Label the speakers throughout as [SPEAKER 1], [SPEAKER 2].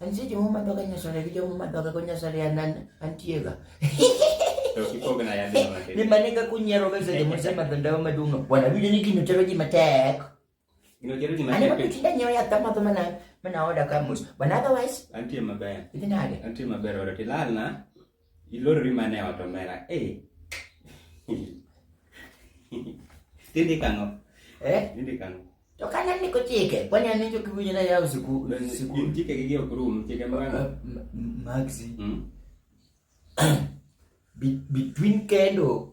[SPEAKER 1] Antie jomo madwaga nyasore gi jomo madwaga go nyasore anan antiega. Ni mane ka kunyiero ga seche mose madho ndawa maduong'. Bwana winjo ni gino tero ji matek. Gino tero ji matek. Ani mapiti da nyewa yath amadho mana mana oda ka mos. Bwana otherwise. Antie maber. Idhi nade? Antie maber oda tilalna. Ilorori mana e ot omera. Eh. Tindi kang'o? Eh? Tindi kang'o? To kane ni kochike, kwani an njo kiwinyo na yaw siku siku. Chike gi ok rum, chike mwana. Maxi. Mm. Between kendo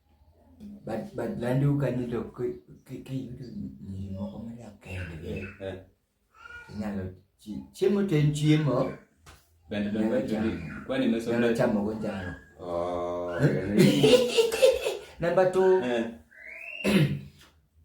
[SPEAKER 1] But but landu kanyo to kiyudo nyiri moko modak kendgi inyalo chiemo to en chiemo bende dongo chamo kwani meso nyalo chamo go njaro oh number 2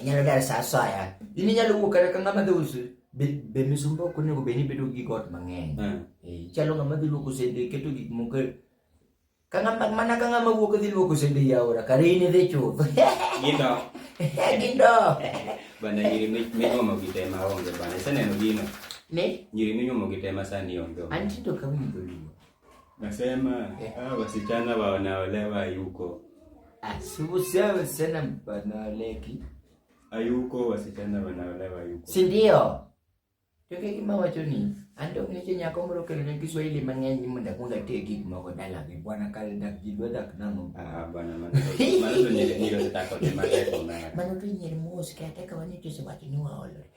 [SPEAKER 1] inyalo dar sa asaya in inyalo wuok kata ka ng'ama dhi us be- be misumba ok onego bed ni bedo gi got mang'eny Eh. Eh, chalo ng'ama dhi luoko sende keto gik moko e- ka ng'ama mana ka ng'ama wuok dhi luoko sende e aora kare in idhi chuth Gindo. gindo Bana nyiri mi- minyuomo gi te ma onge bana. Iseneno gino? ni Nyiri minyuomo gi te ma sani onge. onge. antindo ka winjo luo Nasema eh. hao wasichana wanaolewa hayuko. Asibusia ah, wasichana wanaoleki. Hayuko wasichana wanaolewa hayuko. Si ndio? Toke kima wacho ni ando ngeche nyako moro kelo ne Kiswahili mang'eny mondo akwonga tie gik moko dala gi bwana kale dak ji dwa dak nang'o. Ah bwana mano mano to nyere nyere to tako te mateko na. Mano to nyere mos kata ka wani to se wacho ni waolore.